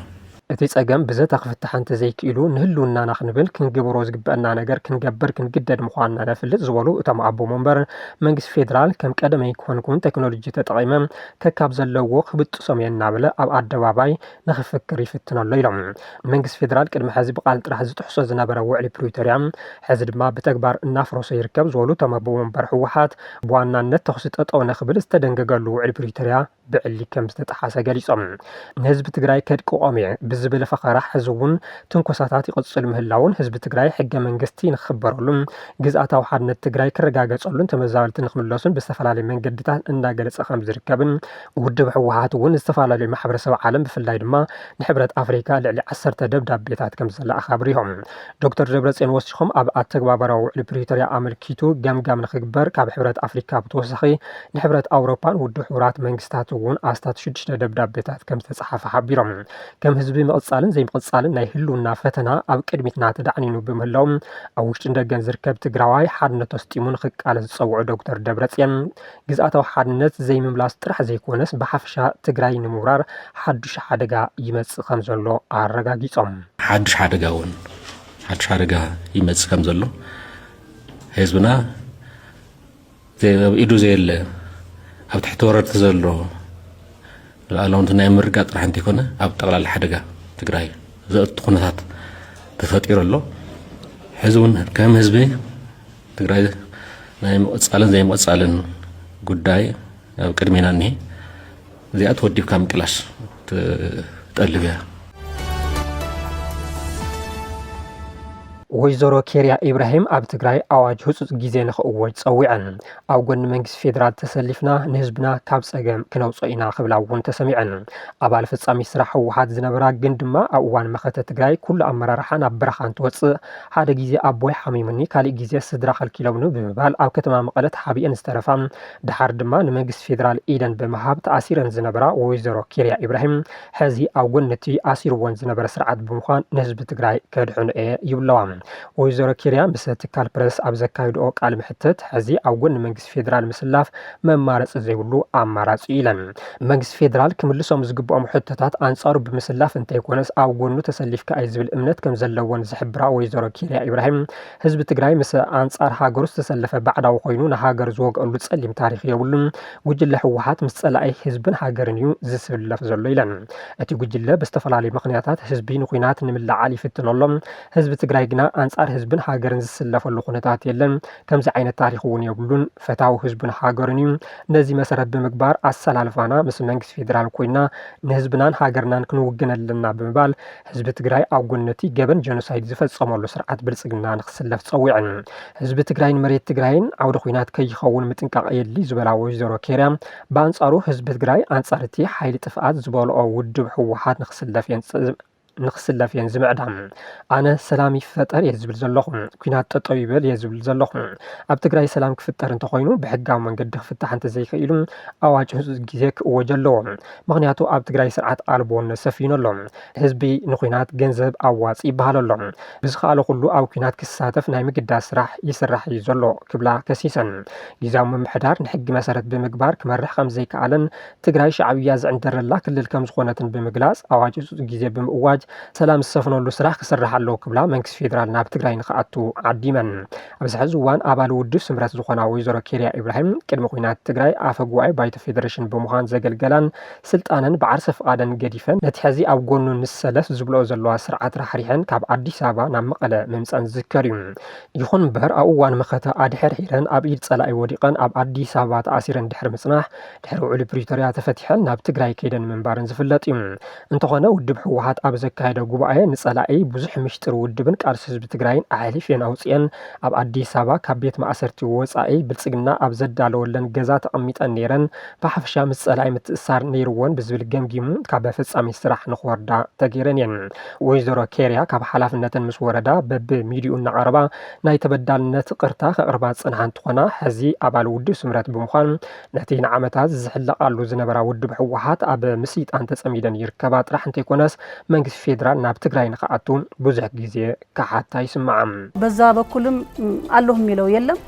እቲ ጸገም ብዘተ ክፍታሕ እንተዘይክኢሉ ንህልውናና ክንብል ክንግብሮ ዝግበእና ነገር ክንገብር ክንግደድ ምዃንና ነፍልጥ ዝበሉ እቶም ኣቦ መንበር፣ መንግስቲ ፌደራል ከም ቀደመይ ክኾንኩን ቴክኖሎጂ ተጠቒመ ከካብ ዘለዎ ክብጥሶም እየ እናበለ ኣብ ኣደባባይ ንኽፍክር ይፍትን ኣሎ ኢሎም። መንግስቲ ፌደራል ቅድሚ ሐዚ ብቃል ጥራሕ ዝጥሕሶ ዝነበረ ውዕሊ ፕሪቶርያ ሐዚ ድማ ብተግባር እናፍረሶ ይርከብ ዝበሉ እቶም ኣቦ ወንበር ህወሓት ብዋናነት ተኹሲ ጠጠው ንኽብል ዝተደንገገሉ ውዕሊ ፕሪቶርያ ብዕሊ ከምዝተጠሓሰ ገሊፆም። ንህዝቢ ትግራይ ከድቅቆም እየ ብዝብል ፈኸራ ሐዚ እውን ትንኮሳታት ይቕፅል ምህላዉን ህዝቢ ትግራይ ሕገ መንግስቲ ንኽኽበረሉን ግዝኣታዊ ሓድነት ትግራይ ክረጋገፀሉን ተመዛበልቲ ንኽምለሱን ብዝተፈላለዩ መንገድታት እናገለፀ ከምዝርከብን ውድብ ህወሓት እውን ንዝተፈላለዩ ማሕበረሰብ ዓለም ብፍላይ ድማ ንሕብረት ኣፍሪካ ልዕሊ ዓሰርተ ደብዳቤታት ከም ዝለኣኸ ኣብሪሆም። ዶክተር ደብረፅዮን ወሲኾም ኣብ ኣተግባበራ ውዕሊ ፕሪቶርያ ኣመልኪቱ ገምጋም ንክግበር ካብ ሕብረት ኣፍሪካ ብተወሳኺ ንሕብረት ኣውሮፓን ውድብ ሕቡራት መንግስታት እውን ኣስታት ሽዱሽተ ደብዳቤታት ከም ዝተፅሓፈ ሓቢሮም። ከም ህዝቢ ምቕፃልን ዘይምቕፃልን ናይ ህልውና ፈተና ኣብ ቅድሚትና ተዳዕኒኑ ብምህላው ኣብ ውሽጥን ደገን ዝርከብ ትግራዋይ ሓድነቱ ኣስጢሙ ንክቃለስ ዝፀውዑ ዶክተር ደብረፅዮን ግዝኣታዊ ሓድነት ዘይምምላስ ጥራሕ ዘይኮነስ ብሓፈሻ ትግራይ ንምውራር ሓዱሽ ሓደጋ ይመፅእ ከምዘሎ ኣረጋጊፆም። ሓዱሽ ሓደጋ እውን ሓዱሽ ሓደጋ ይመፅእ ከምዘሎ ህዝብና ኣብ ኢዱ ዘየለ ኣብ ትሕቲ ወረርቲ ዘሎ ሉዓላውነት ናይ ምርጋጥ ጥራሕ እንተይኮነ ኣብ ጠቕላላ ሓደጋ ትግራይ ዘእቱ ኩነታት ተፈጢሩ ኣሎ ሕዚ እውን ከም ህዝቢ ትግራይ ናይ ምቕፃልን ዘይምቕፃልን ጉዳይ ኣብ ቅድሜና እኒሀ እዚኣ ተወዲብካ ምቅላስ ትጠልብ እያ ወይዘሮ ኬርያ ኢብራሂም ኣብ ትግራይ ኣዋጅ ህፁፅ ግዜ ንክእወጅ ፀዊዐን ኣብ ጎኒ መንግስቲ ፌዴራል ተሰሊፍና ንህዝብና ካብ ፀገም ክነውፆ ኢና ክብላ እውን ተሰሚዐን ኣባል ፈፃሚ ስራሕ ህወሓት ዝነበራ ግን ድማ ኣብ እዋን መኸተ ትግራይ ኩሉ ኣመራርሓ ናብ በረኻ እንትወፅእ ሓደ ግዜ ኣቦይ ሓሚሙኒ ካሊእ ግዜ ስድራ ከልኪሎምኒ ብምባል ኣብ ከተማ መቐለ ተሓቢኤን ዝተረፋ ደሓር ድማ ንመንግስቲ ፌዴራል ኢደን ብምሃብ ተኣሲረን ዝነበራ ወይዘሮ ኬርያ ኢብራሂም ሕዚ ኣብ ጎኒ እቲ ኣሲርዎን ዝነበረ ስርዓት ብምዃን ንህዝቢ ትግራይ ከድሕኖ እየ ይብለዋ። ወይዘሮ ኬርያ ምስ ትካል ፕረስ ኣብ ዘካይድኦ ቃለ መሕትት ሕዚ ኣብ ጎኒ መንግስቲ መንግስቲ ፌደራል ምስላፍ መማረፂ ዘይብሉ ኣማራፂ እዩ ኢለን። መንግስቲ ፌደራል ክምልሶም ዝግብኦም ሕቶታት ኣንፃሩ ብምስላፍ እንተይኮነስ ኣብ ጎኑ ተሰሊፍካ እዩ ዝብል እምነት ከምዘለወን ዝሕብራ ወይዘሮ ኬሪያ ኢብራሂም ህዝቢ ትግራይ ምስ ኣንፃር ሃገሩ ዝተሰለፈ ባዕዳዊ ኮይኑ ንሃገር ዝወግኣሉ ፀሊም ታሪክ የብሉን። ጉጅለ ህወሓት ምስ ፀላኢ ህዝብን ሃገርን እዩ ዝስለፍ ዘሎ ኢለን። እቲ ጉጅለ ብዝተፈላለዩ ምክንያታት ህዝቢ ንኩናት ንምልዕዓል ይፍትን ኣሎ። ህዝቢ ትግራይ ግና ኣንፃር ህዝብን ሃገርን ዝስለፈሉ ኩነታት የለን። ከምዚ ዓይነት ታሪኽ እውን የብሉን። ፈታዊ ህዝቡን ሃገሩን እዩ። ነዚ መሰረት ብምግባር ኣሰላልፋና ምስ መንግስቲ ፌዴራል ኮይና ንህዝብናን ሃገርናን ክንውግን ኣለና ብምባል ህዝቢ ትግራይ ኣብ ጎኒ እቲ ገበን ጀኖሳይድ ዝፈፀመሉ ስርዓት ብልፅግና ንክስለፍ ፀዊዐን። ህዝቢ ትግራይን መሬት ትግራይን ዓውደ ኹናት ከይኸውን ምጥንቃቕ የድልይ ዝበላ ወይዘሮ ኬርያ ብኣንፃሩ ህዝቢ ትግራይ ኣንፃር እቲ ሓይሊ ጥፍኣት ዝበልኦ ውድብ ህወሓት ንክስለፍ የን ንክስለፍ እየን ዝምዕዳ። ኣነ ሰላም ይፈጠር እየ ዝብል ዘለኹ፣ ኲናት ጠጠው ይበል እየ ዝብል ዘለኹ። ኣብ ትግራይ ሰላም ክፍጠር እንተኾይኑ ብሕጋዊ መንገዲ ክፍታሕ እንተዘይክኢሉ ኣዋጅ ህፁፅ ግዜ ክእወጅ ኣለዎ። ምኽንያቱ ኣብ ትግራይ ስርዓት ኣልቦነት ሰፊኑ ኣሎ። ህዝቢ ንዂናት ገንዘብ ኣዋፅ ይበሃል ኣሎ። ብዝከኣሎ ኩሉ ኣብ ኲናት ክሳተፍ ናይ ምግዳድ ስራሕ ይስራሕ እዩ ዘሎ ክብላ ከሲሰን። ግዝያዊ ምምሕዳር ንሕጊ መሰረት ብምግባር ክመርሕ ከምዘይከኣለን ትግራይ ሻዕብያ ዝዕንደረላ ክልል ከምዝኾነትን ብምግላፅ ኣዋጅ ህፁፅ ግዜ ብምእዋጅ ሰላም ዝሰፍነሉ ስራሕ ክስራሕ ኣለዎ ክብላ መንግስቲ ፌዴራል ናብ ትግራይ ንክኣቱ ዓዲመን። ኣብዚ ሕዚ እዋን ኣባል ውድብ ስምረት ዝኾና ወይዘሮ ኬሪያ ኢብራሂም ቅድሚ ኩናት ትግራይ ኣፈ ጉባኤ ባይቶ ፌዴሬሽን ብምዃን ዘገልገላን ስልጣነን ብዓርሰ ፍቓደን ገዲፈን ነቲ ሕዚ ኣብ ጎኑ ንሰለፍ ዝብልኦ ዘለዋ ስርዓት ራሕሪሐን ካብ ኣዲስ ኣበባ ናብ መቐለ ምምፀኣን ዝዝከር እዩ። ይኹን እምበር ኣብ እዋን መኸተ ኣድሐርሒረን ኣብ ኢድ ፀላኢ ወዲቐን ኣብ ኣዲስ ኣበባ ተኣሲረን ድሕሪ ምፅናሕ ድሕሪ ውዕሊ ፕሪቶርያ ተፈቲሐን ናብ ትግራይ ከይደን ምንባረን ዝፍለጥ እዩ። እንተኾነ ውድብ ህወሓት ኣብ ዘካየደ ጉባኤ ንፀላኢ ብዙሕ ምሽጥር ውድብን ቃልሲ ህዝቢ ትግራይን ኣሕሊፊኤን ኣውፂኤን ኣብ ኣዲስ ኣበባ ካብ ቤት ማእሰርቲ ወፃኢ ብልፅግና ኣብ ዘዳለወለን ገዛ ተቐሚጠን ነይረን ብሓፈሻ ምስ ፀላኢ ምትእስሳር ነይርዎን ብዝብል ገምጊሙ ካብ ፈፃሚት ስራሕ ንክወርዳ ተገይረን እየን። ወይዘሮ ኬርያ ካብ ሓላፍነተን ምስ ወረዳ በቢ ሚድኡ እናቐረባ ናይ ተበዳልነት ቕርታ ከቕርባ ዝፀንሓ እንትኾና ሕዚ ኣባል ውድብ ስምረት ብምዃን ነቲ ንዓመታት ዝሕለቓሉ ዝነበራ ውድብ ህወሓት ኣብ ምስይጣን ተፀሚደን ይርከባ ጥራሕ እንተይኮነስ መንግስቲ ፌዴራል ናብ ትግራይ ንክኣቱ ብዙሕ ግዜ ክሓታ ይስምዓ። በዛ በኩልም ኣለሁ የሚለው የለም።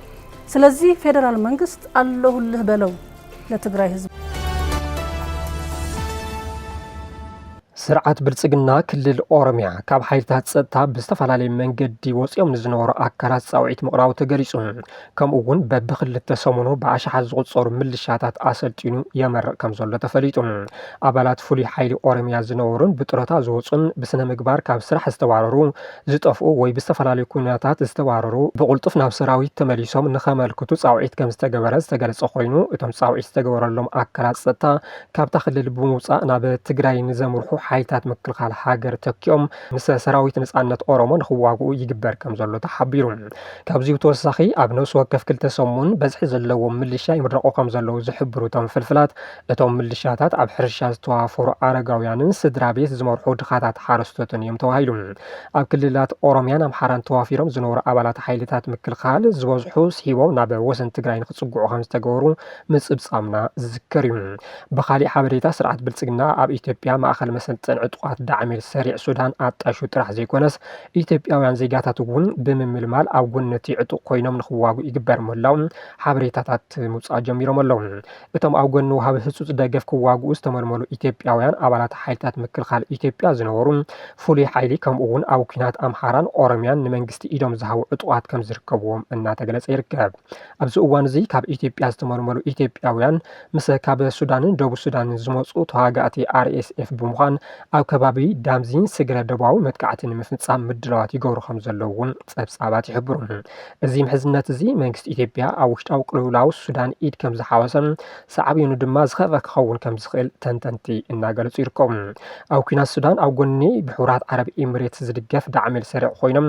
ስለዚህ ፌዴራል መንግስት ኣለሁልህ በለው ለትግራይ ህዝብ። ስርዓት ብልፅግና ክልል ኦሮሚያ ካብ ሓይልታት ፀጥታ ብዝተፈላለየ መንገዲ ወፂኦም ንዝነበሩ ኣካላት ፃውዒት ምቕራቡ ተገሊፁ። ከምኡ እውን በብክልተ ሰሙኑ ብኣሽሓት ዝቑፀሩ ምልሻታት ኣሰልጢኑ የመርቕ ከም ዘሎ ተፈሊጡ። ኣባላት ፍሉይ ሓይሊ ኦሮሚያ ዝነበሩን ብጡረታ ዝወፁን ብስነ ምግባር ካብ ስራሕ ዝተባረሩ፣ ዝጠፍኡ ወይ ብዝተፈላለዩ ኩነታት ዝተባረሩ ብቕልጡፍ ናብ ሰራዊት ተመሊሶም ንኸመልክቱ ፃውዒት ከም ዝተገበረ ዝተገለፀ ኮይኑ እቶም ፃውዒት ዝተገበረሎም ኣካላት ፀጥታ ካብታ ክልል ብምውፃእ ናብ ትግራይ ንዘምርሑ ሓይልታት ምክልኻል ሃገር ተኪኦም ምስ ሰራዊት ነፃነት ኦሮሞ ንክዋግኡ ይግበር ከም ዘሎ ተሓቢሩ። ካብዚ ብተወሳኺ ኣብ ነብሲ ወከፍ ክልተ ሰሙን በዝሒ ዘለዎም ምልሻ ይምረቑ ከም ዘለዉ ዝሕብሩ እቶም ፍልፍላት እቶም ምልሻታት ኣብ ሕርሻ ዝተዋፈሩ ኣረጋውያንን ስድራ ቤት ዝመርሑ ድኻታት ሓረስቶትን እዮም ተባሂሉ። ኣብ ክልላት ኦሮሚያን ኣምሓራን ተዋፊሮም ዝነበሩ ኣባላት ሓይልታት ምክልኻል ዝበዝሑ ስሒቦም ናብ ወሰን ትግራይ ንክፅግዑ ከም ዝተገበሩ ምጽብጻብና ዝዝከር እዩ። ብኻሊእ ሓበሬታ ስርዓት ብልጽግና ኣብ ኢትዮጵያ ማእኸል መሰልጠን ዕጡቓት ዳዕሚር ሰሪዕ ሱዳን ኣጣይሹ ጥራሕ ዘይኮነስ ኢትዮጵያውያን ዜጋታት እውን ብምምልማል ኣብ ጎኒ እቲ ዕጡቕ ኮይኖም ንኽዋግኡ ይግበር ምህላው ሓበሬታታት ምውጻእ ጀሚሮም ኣለው። እቶም ኣብ ጎኒ ወሃቢ ህጹጽ ደገፍ ክዋግኡ ዝተመልመሉ ኢትዮጵያውያን ኣባላት ሓይልታት ምክልኻል ኢትዮጵያ ዝነበሩ ፍሉይ ሓይሊ ከምኡ እውን ኣብ ኩናት ኣምሓራን ኦሮሚያን ንመንግስቲ ኢዶም ዝሃቡ ዕጡቓት ከምዝርከብዎም እናተገለጸ ይርከብ። ኣብዚ እዋን እዚ ካብ ኢትዮጵያ ዝተመልመሉ ኢትዮጵያውያን ምስ ካብ ሱዳንን ደቡብ ሱዳንን ዝመፁ ተዋጋእቲ ኣርኤስኤፍ ብምዃን ኣብ ከባቢ ዳምዚን ስግረ ደቡባዊ መጥቃዕቲ ንምፍፃም ምድላዋት ይገብሩ ከም ዘለዉ እውን ፀብፃባት ይሕብሩ። እዚ ምሕዝነት እዚ መንግስቲ ኢትዮጵያ ኣብ ውሽጣዊ ቅልውላው ሱዳን ኢድ ከም ዝሓወሰን ሳዕቤኑ ድማ ዝኸፈ ክኸውን ከም ዝኽእል ተንተንቲ እናገለፁ ይርከቡ። ኣብ ኩናት ሱዳን ኣብ ጎኒ ብሕቡራት ዓረብ ኤምሬትስ ዝድገፍ ዳዕመል ሰሪዕ ኮይኖም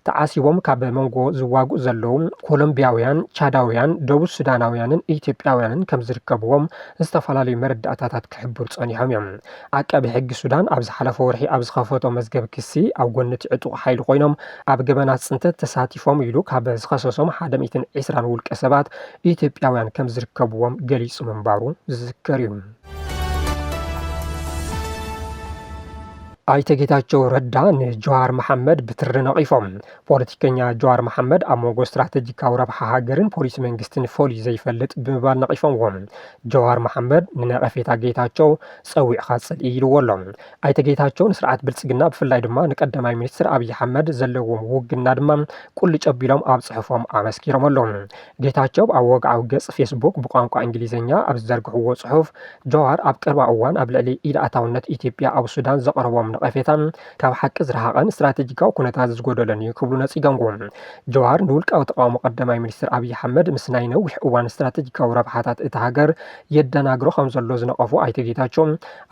ተዓሲቦም ካብ መንጎ ዝዋግኡ ዘለዉ ኮሎምቢያውያን፣ ቻዳውያን፣ ደቡብ ሱዳናውያንን ኢትዮጵያውያንን ከም ዝርከብዎም ዝተፈላለዩ መረዳእታታት ክሕብሩ ጸኒሖም እዮም። ዓቃቢ ሕጊ ሱዳን ኣብ ዝሓለፈ ወርሒ ኣብ ዝኸፈቶ መዝገብ ክሲ፣ ኣብ ጎኒ እቲ ዕጡቕ ሓይሊ ኮይኖም ኣብ ገበናት ጽንተት ተሳቲፎም ኢሉ ካብ ዝኸሰሶም ሓደ ሚእትን ዕስራን ውልቀሰባት ኢትዮጵያውያን ከም ዝርከብዎም ገሊጹ ምንባሩ ዝዝከር እዩ። ኣይተ ጌታቸው ረዳ ንጀዋር መሓመድ ብትሪ ነቒፎም ፖለቲከኛ ጀዋር መሓመድ ኣብ መንጎ ስትራተጂካዊ ረብሓ ሃገርን ፖሊሲ መንግስትን ፈልዩ ዘይፈልጥ ብምባል ነቒፎምዎም ጀዋር መሓመድ ንነቐፌታ ጌታቸው ፀዊዕኻ ፅልኢ ኢልዎ ኣሎ ኣይተ ጌታቸው ንስርዓት ብልፅግና ብፍላይ ድማ ንቀዳማይ ሚኒስትር ኣብዪ ኣሕመድ ዘለዎም ውግና ድማ ቁልጭ ኣቢሎም ኣብ ፅሑፎም ኣመስኪሮም ኣለዉ ጌታቸው ኣብ ወግዓዊ ገፅ ፌስቡክ ብቋንቋ እንግሊዝኛ ኣብ ዝዘርግሕዎ ፅሑፍ፣ ጃዋር ኣብ ቀረባ እዋን ኣብ ልዕሊ ኢድ-ኣእታውነት ኢትዮጵያ ኣብ ሱዳን ዘቕረቦም ነቐፌታ ካብ ሓቂ ዝረሓቐን ስትራቴጂካዊ ኩነታት ዝጎደሎን እዩ ክብሉ ነፂገምዎ። ጃዋር ንውልቃዊ ተቓውሞ ቀዳማይ ሚኒስትር ኣብይ ኣሕመድ ምስ ናይ ነዊሕ እዋን ስትራቴጂካዊ ረብሓታት እታ ሃገር የደናግሮ ከምዘሎ ዝነቐፉ ኣይተ ጌታቸው፣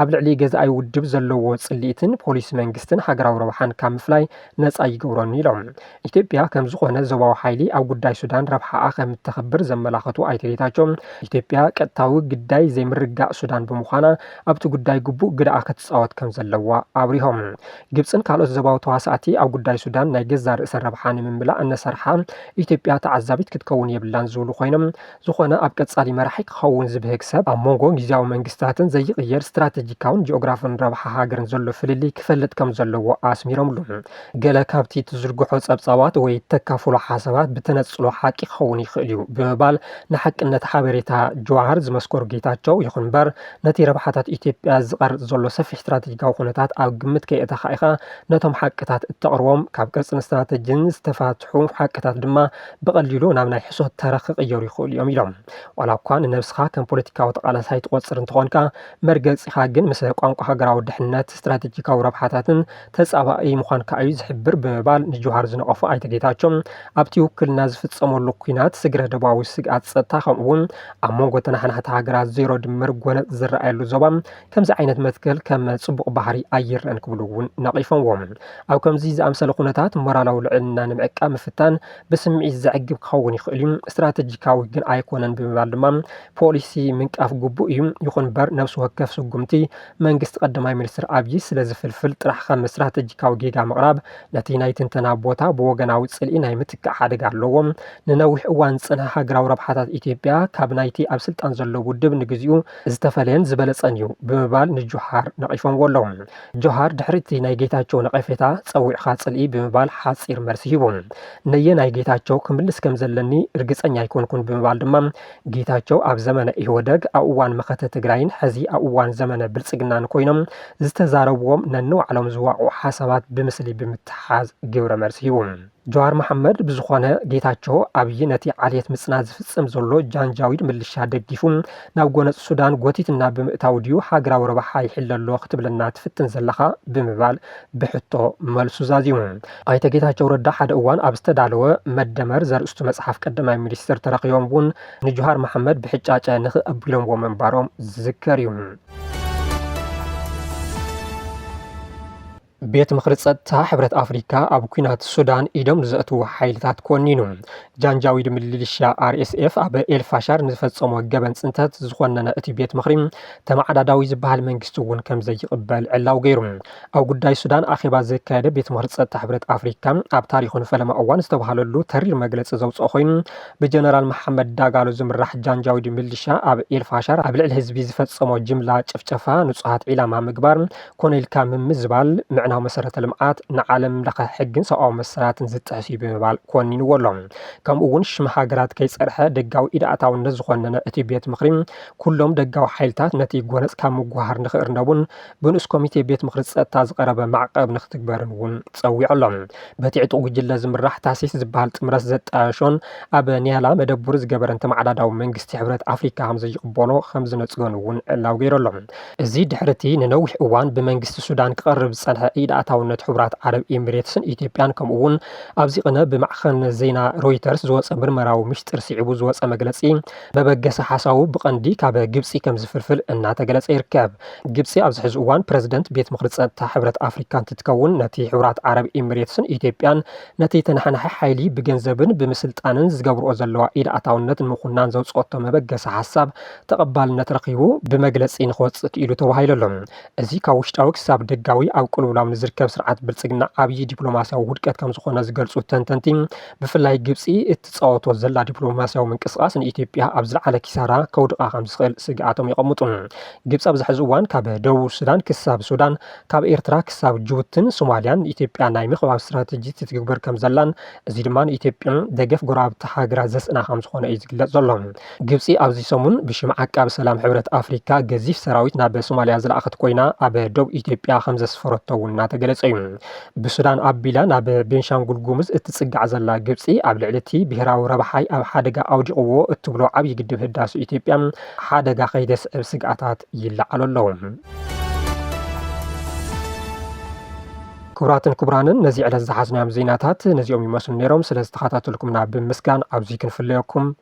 ኣብ ልዕሊ ገዛኢ ውድብ ዘለዎ ፅልኢትን ፖሊሲ መንግስትን ሃገራዊ ረብሓን ካብ ምፍላይ ነፃ ይገብሮን ኢሎም። ኢትዮጵያ ከም ዝኾነ ዞባዊ ሓይሊ ኣብ ጉዳይ ሱዳን ረብሓኣ ከም እተኽብር ዘመላኸቱ ኣይተ ጌታቸው፣ ኢትዮጵያ ቀጥታዊ ግዳይ ዘይምርግጋእ ሱዳን ብምዃና ኣብቲ ጉዳይ ግቡእ ግደኣ ክትፃወት ከም ዘለዋ ኣብሪሆም። ግብፅን ካልኦት ዞባዊ ተዋሳእቲ ኣብ ጉዳይ ሱዳን ናይ ገዛእ ርእሰን ረብሓ ንምምላእ እነሰርሓ ኢትዮጵያ ተዓዛቢት ክትከውን የብላን ዝብሉ ኮይኖም፣ ዝኾነ ኣብ ቀጻሊ መራሒ ክኸውን ዝብህግ ሰብ፣ ኣብ መንጎ ጊዚያዊ መንግስታትን ዘይቕየር ስትራተጂካውን ጂኦግራፍን ረብሓ ሃገርን ዘሎ ፍልልይ ክፈልጥ ከም ዘለዎ ኣስሚሮምሉ። ገለ ካብቲ ትዝርግሖ ጸብጻባት ወይ ተካፍሎ ሓሳባት ብተነጽሎ ሓቂ ክኸውን ይኽእል'ዩ ብምባል ንሓቅነት ሓበሬታ ጀዋሃር ዝመስከሩ ጌታቸው፣ ይኹን'ምበር ነቲ ረብሓታት ኢትዮጵያ ዝቐርጽ ዘሎ ሰፊሕ ስትራተጂካዊ ኩነታት ኣብ ግምት ከየእተኻ ኢኻ ነቶም ሓቅታት እተቕርቦም፣ ካብ ቅርጽን ስትራተጂን ዝተፋትሑ ሓቅታት ድማ ብቐሊሉ ናብ ናይ ሕሶት ተረኽ ክቕየሩ ይኽእሉ እዮም ኢሎም። ዋላ እኳ ንነብስኻ ከም ፖለቲካዊ ተቓላሳይ ትቖጽር እንተኾንካ፣ መርገጺኻ ግን ምስ ቋንቋ ሃገራዊ ድሕነት፣ ስትራቴጂካዊ ረብሓታትን ተጻባኢ ምዃንካ እዩ ዝሕብር ብምባል ንጁሃር ዝነቐፉ ኣይተ ጌታቸው፣ ኣብቲ ውክልና ዝፍጸመሉ ኲናት ስግረ-ዶባዊ ስግኣት ጸጥታ ከምኡ'ውን ኣብ መንጎ ተነሓናሕቲ ሃገራት ዜሮ ድምር ጎነጽ ዝረኣየሉ ዞባ ከምዚ ዓይነት መትከል ከም ጽቡቕ ባህሪ ኣይረኣን ክብሉ እውን ነቒፎምዎ። ኣብ ከምዚ ዝኣምሰለ ኩነታት ሞራላዊ ልዕልና ንምዕቃብ ምፍታን ብስምዒት ዘዕግብ ክኸውን ይኽእል እዩ፣ ስትራተጂካዊ ግን ኣይኮነን ብምባል ድማ ፖሊሲ ምንቃፍ ግቡእ እዩ። ይኹን እምበር ነብሲ ወከፍ ስጉምቲ መንግስቲ ቀዳማይ ሚኒስትር ኣብዪ ስለ ዝፍልፍል ጥራሕ ከም ስትራተጂካዊ ጌጋ ምቕራብ ነቲ ናይ ትንተና ቦታ ብወገናዊ ጽልኢ ናይ ምትካእ ሓደጋ ኣለዎ። ንነዊሕ እዋን ዝጸንሐ ሃገራዊ ረብሓታት ኢትዮጵያ ካብ ናይቲ ኣብ ስልጣን ዘሎ ውድብ ንግዚኡ ዝተፈለየን ዝበለፀን እዩ ብምባል ንጆሃር ነቒፎምዎ ኣለዉ። ጆሃር ድሕሪ እቲ ናይ ጌታቸው ነቐፌታ ፀዊዕኻ ፅልኢ ብምባል ሓፂር መልሲ ሂቡ። ነየናይ ጌታቸው ክምልስ ከም ዘለኒ ርግፀኛ ኣይኮንኩን ብምባል ድማ ጌታቸው ኣብ ዘመነ ኢህወደግ ኣብ እዋን መኸተ ትግራይን ሕዚ ኣብ እዋን ዘመነ ብልፅግናን ኮይኖም ዝተዛረብዎም ነንባዕሎም ዝዋቕዑ ሓሳባት ብምስሊ ብምትሕሓዝ ግብረ መልሲ ሂቡ። ጀዋር መሓመድ ብዝኾነ ጌታቸው ኣብይ ነቲ ዓሌት ምፅናት ዝፍፅም ዘሎ ጃንጃዊድ ምልሻ ደጊፉ ናብ ጎነፅ ሱዳን ጎቲትና ብምእታው ድዩ ሃገራዊ ረብሓ ይሕለ ኣሎ ክትብለና ትፍትን ዘለኻ ብምባል ብሕቶ መልሱ ዛዚሙ። ኣይተ ጌታቸው ረዳ ሓደ እዋን ኣብ ዝተዳለወ መደመር ዘርእስቱ መፅሓፍ ቀዳማይ ሚኒስትር ተረኺቦም እውን ንጀዋር መሓመድ ብሕጫጨ ንኽእ ኣቢሎምዎ ምንባሮም ዝዝከር እዩ። ቤት ምኽሪ ጸጥታ ሕብረት ኣፍሪካ ኣብ ኩናት ሱዳን ኢዶም ንዘእትዉ ሓይልታት ኮኒኑ። ጃንጃዊድ ምልሻ ኣርኤስኤፍ ኣብ ኤልፋሻር ንዝፈጸሞ ገበን ጽንተት ዝኾነነ እቲ ቤት ምኽሪ ተመዓዳዳዊ ዝበሃል መንግስቲ እውን ከም ዘይቕበል ዕላው ገይሩ። ኣብ ጉዳይ ሱዳን ኣኼባ ዘካየደ ቤት ምኽሪ ጸጥታ ሕብረት ኣፍሪካ ኣብ ታሪኹ ንፈለማ እዋን ዝተባሃለሉ ተሪር መግለጺ ዘውፅኦ ኮይኑ ብጀነራል መሓመድ ዳጋሎ ዝምራሕ ጃንጃዊድ ምልሻ ኣብ ኤልፋሻር ኣብ ልዕሊ ህዝቢ ዝፈጸሞ ጅምላ ጭፍጨፋ ንጹሃት ዒላማ ምግባር ኮነ ኢልካ ምምዝባል ምዕናው መሰረተ ልምዓት ንዓለም ለኸ ሕግን ሰብኣዊ መሰላትን ዝጥሕፍ እዩ ብምባል ኮኒንዎ ኣሎ። ከምኡ እውን ሽም ሃገራት ከይፀርሐ ደጋዊ ኢድ ኣእታውነት ዝኾነነ እቲ ቤት ምኽሪ ኩሎም ደጋዊ ሓይልታት ነቲ ጎነፅ ካብ ምጉህሃር ንክእርነቡን ብንኡስ ኮሚቴ ቤት ምኽሪ ፀጥታ ዝቐረበ ማዕቐብ ንክትግበርን እውን ፀዊዑ ኣሎ። በቲ ዕጡቕ ጉጅለ ዝምራሕ ታሲስ ዝበሃል ጥምረት ዘጣየሾን ኣብ ኒያላ መደብሩ ዝገበረን ተመዓዳዳዊ መንግስቲ ሕብረት ኣፍሪካ ከምዘይቕበሎ ከምዝነፅገን እውን ዕላዊ ገይሩ ኣሎ። እዚ ድሕሪ'ቲ ንነዊሕ እዋን ብመንግስቲ ሱዳን ክቐርብ ዝጸንሐ ኢድ ኣእታውነት ሕቡራት ዓረብ ኤሚሬትስን ኢትዮጵያን ከምኡ'ውን ኣብዚ ቅነ ብማዕኸን ዜና ሮይተርስ ዝወጸ ምርመራዊ ምሽጥር ስዒቡ ዝወጸ መግለጺ መበገሲ ሓሳቡ ብቐንዲ ካብ ግብጺ ከም ዝፍልፍል እናተገለጸ ይርከብ። ግብጺ ኣብዚ ሕዚ እዋን ፕረዚደንት ቤት ምኽሪ ጸጥታ ሕብረት ኣፍሪካ እንትትከውን ነቲ ሕቡራት ዓረብ ኤሚሬትስን ኢትዮጵያን ነቲ ተነሓናሒ ሓይሊ ብገንዘብን ብምስልጣንን ዝገብርኦ ዘለዋ ኢድ ኣእታውነት ንምኹናን ዘውጽኦቶ መበገሲ ሓሳብ ተቐባልነት ረኺቡ ብመግለፂ ንክወፅእ ክኢሉ ተባሂሉ ኣሎ። እዚ ካብ ውሽጣዊ ክሳብ ደጋዊ ኣብ ቅልውላው ንዝርከብ ስርዓት ብልፅግና ዓብዪ ዲፕሎማሲያዊ ውድቀት ከምዝኾነ ዝገልፁ ተንተንቲ ብፍላይ ግብፂ እትፃወቶ ዘላ ዲፕሎማሲያዊ ምንቅስቓስ ንኢትዮጵያ ኣብ ዝለዓለ ኪሳራ ከውድቓ ከምዝኽእል ስግኣቶም የቐምጡ። ግብፂ ኣብዚ ሕዚ እዋን ካብ ደቡብ ሱዳን ክሳብ ሱዳን ካብ ኤርትራ ክሳብ ጅቡትን ሶማሊያን ንኢትዮጵያ ናይ ምኽባብ ስትራቴጂ ትትግበር ከምዘላን እዚ ድማ ንኢትዮጵያ ደገፍ ጎረባብቲ ሃገራት ዘስእና ከምዝኾነ እዩ ዝግለፅ ዘሎ። ግብጺ ኣብዚ ሰሙን ብሽም ዓቃቢ ሰላም ሕብረት ኣፍሪካ ገዚፍ ሰራዊት ናብ ሶማልያ ዝለኣኸት ኮይና ኣብ ዶብ ኢትዮጵያ ከምዘስፈረቶ እውን እናተገለጸ እዩ። ብሱዳን ኣቢላ ናብ ቤንሻንጉል ጉሙዝ እትጽጋዕ ዘላ ግብጺ ኣብ ልዕሊ እቲ ብሄራዊ ረብሓይ ኣብ ሓደጋ ኣውዲቕዎ እትብሎ ዓብዪ ግድብ ህዳሰ ኢትዮጵያ ሓደጋ ከይተስዕብ ስግኣታት ይለዓሉ ኣለዉ። ክቡራትን ክቡራንን ነዚ ዕለት ዝሓዝናዮም ዜናታት ነዚኦም ይመስሉ ነይሮም። ስለ ዝተኸታተልኩምና ብምስጋን ኣብዚ ክንፍለየኩም